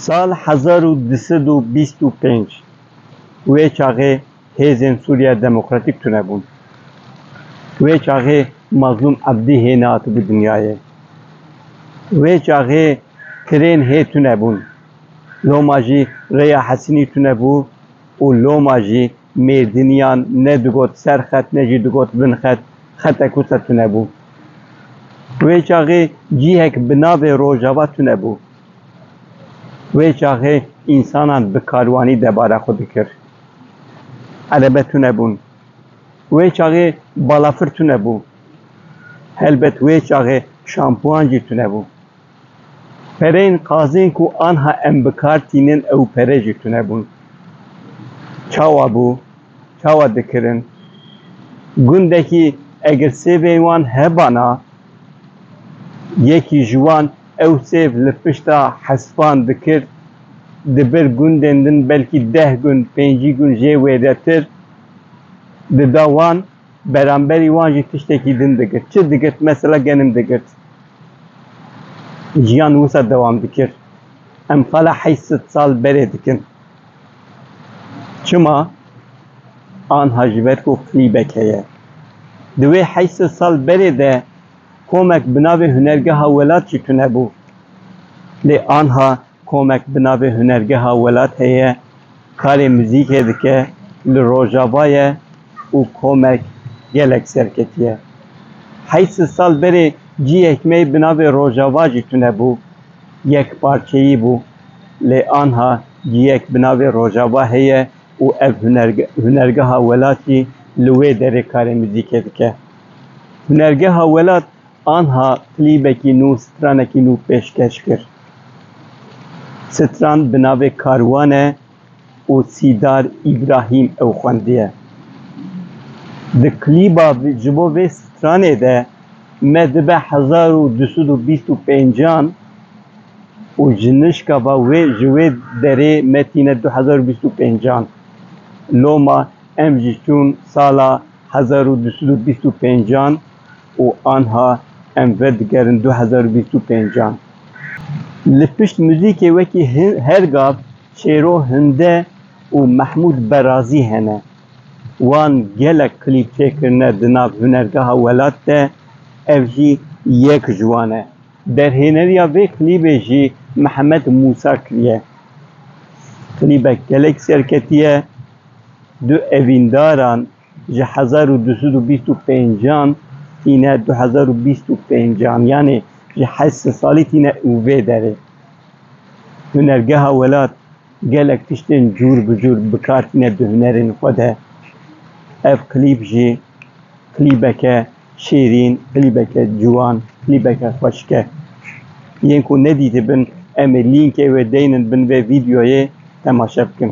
Sal hezar û du sed û bîst û pênc wê çaxê hêzên Sûriya Demokratîk tune bûn. Wê çaxê Mazlûm Ebdî hê nehatibû dinyayê. Wê çaxê kirên hê tune bûn. Loma jî rêya Hesînî tune bû û loma jî mêrdiniyan ne digot ser xet ne jî digot bin xet, xetek wisa tune bû. Wê çaxê cîhek bi navê Rojava tune bû. Wê çaxê însanan bi karwanî debara xwe dikir. Erebe tune bûn. Wê çaxê balafir tune bû. Helbet wê çaxê şampuan jî tune bû. Pereyên qazên ku anha em bi kar tînin ew pere jî tune bûn. Çawa bû? Çawa dikirin? Gundekî eger sêvên wan hebana, yekî ji wan ew sêv li pişta hespan dikir, di ber gundên din belkî deh gund, pêncî gund jê wêretir dida wan. Beramberî wan jî tiştekî din digirt. Çi digirt? Mesela genim digirt. Jiyan wisa dewam dikir. Em qala heyt sed sal berê dikin. Çima? Anha ji ber ku klîbek heye. Di wê heyt sed sal berê de komek bi navê Hunergeha Welat jî tunebû. Lê anha Komek bi navê Hunergeha Welat heye, karê muzîkê dike, li Rojava ye û komek gelek serketiye. Heyî sil sal berê cihek me bi navê Rojava jî tune bû, yekparçeyî bû. Lê anha cihek bi navê Rojava heye û ev Hunergeha Welat jî li wê derê karê muzîkê dike. Hunergeha Welat anha klîbekî nû, stranekî nû pêşkeş kir. Stran bi navê Karwan e û Sîdar Îbrahîm ew xwendiye. Di klîba ji bo vê stranê de me dibe hezar û du sed û bîst û pêncan û ji nişka va wê ji wê derê me tîne du hezar û bîst û pêncan. Loma em jî çûn sala hezar û du sed û bîst û pêncan û anha em vedigerin du hezar û bîst û pêncan. Li pişt muzîkê wekî her gav Şêro Hunde û Mehmûd Berazî hene. Wan gelek klîp çêkirine di nav Hunergeha Welat de, ev jî yek ji wan e. Derhêneriya vê klîbê jî Mihemed Mûsa kiriye. Klîbek gelek serketî ye. Du evîndaran, Ji hezar û du sed û bîst û pêncan tîne du hezar û bîst û pêncan yanê ji heşt sed salî tîne û vê derê Hunergeha Welat gelek tiştên cûr bi cûr bi kar tîne di hunerên xwe de. Ev klîp jî klîbeke şêrîn, klîbeke ciwan, klîbeke xweşik e. Yên ku nedîtibin em ê lînkê wê deynin bin vê vîdeoyê temaşe bikin.